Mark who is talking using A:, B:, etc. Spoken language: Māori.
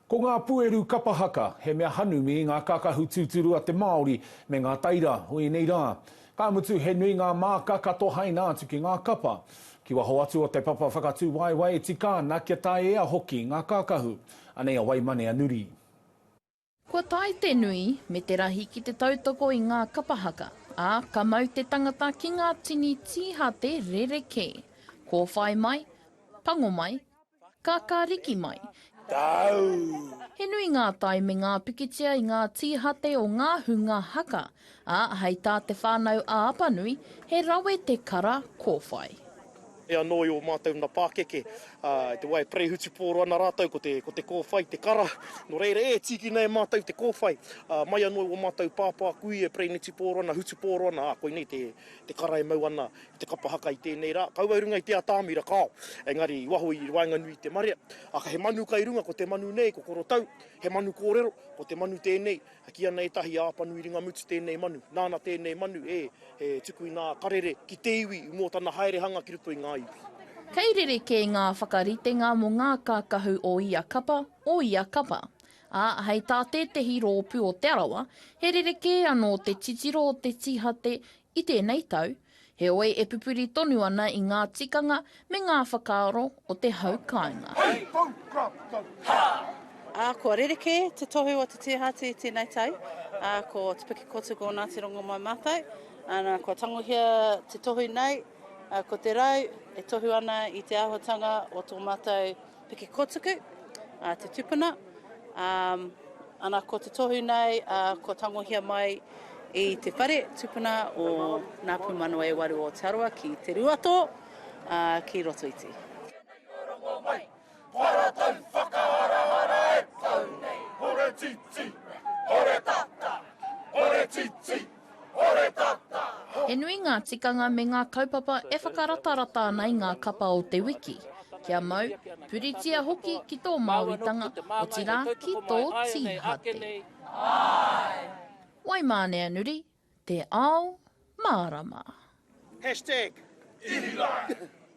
A: Ko ngā pueru kapa haka, he mea hanumi i ngā kakahu tūturu a te Māori me ngā taira o ēnei rā. Ka mutu he nui ngā māka ka tohaina atu ki ngā kapa. Ki waho atu o te papa whakatūwaewae e tika ana kia tae ea hoki ngā kakahu. Anei a Waimane a Nuri.
B: Kua tae te nui me te rahi ki te tautoko i ngā kapa haka, ā, ka mau te tangata ki ngā tini tīhate rerekē. Kōwhai mai, pango mai, Ka kariki mai. Tāu.
C: He nui
B: ngā tae me ngā pikitia i ngā tīhate o ngā hunga haka, ā, hei tā Te Whānau-ā-Apanui, he rawe te kara kōwhai. E anō
C: i ō mātou na pākeke, ā, i te wā e perehutupōro ana rātou ko te, ko te kōwhai te kara. Nō reira, e tīkina e mātou te kōwhai, ā, mai anō i ō mātou pāpākui e perenetupōro ana, hutupōro ana, ā, koinei te, te kara e mau ana te kapa haka i tēnei rā, kaua i runga i te atamira, kāo. Engari, i waho i waenganui i te marea, aka he manu kai runga, ko te manu nei, ko Korotau, he manu kōrero, ko te manu tēnei, ki ana ētahi a Apanui Ringamutu tēnei manu, nāna tēnei manu e, e tuku i ngā karere ki te iwi mō tana haerehanga ki roto i ngā iwi. Kei rerekē
B: ngā whakaritenga mō ngā kākahu o ia kapa, o ia kapa. Ā, hei tā tētehi rōpū o Te Arawa, he rerekē anō te titiro o te tīhate i tēnei tau, heoi e pupuri tonu ana i ngā tikanga me ngā whakaaro o te hau kāinga. Hei hau kāpitau, hā!
D: Ā, kua rerekē te tohu o te tihati i tēnei tau, ā, ko Te Pukekotū ko Ngāti Rongomai mātou, ā, kua tangohia te tohu nei, ā, ko te rau e tohu ana i te āhuatanga o tō mātou Piki Kotuku, te tupuna, ana ko te tohu nei kua tangohia mai i te whare tupuna o Ngā Pūmanawa e Waru o Aotearoa ki Te Ruatō, ki Rotoiti.
B: He nui ngā tikanga me ngā kaupapa e whakaratarata ana i ngā kapa o te wiki. Kia mau, puritia hoki ki tō Māoritanga, otirā ki tō tīhate. Waimāneanuri, Te Ao Mārama. Hashtag Ihi Lai!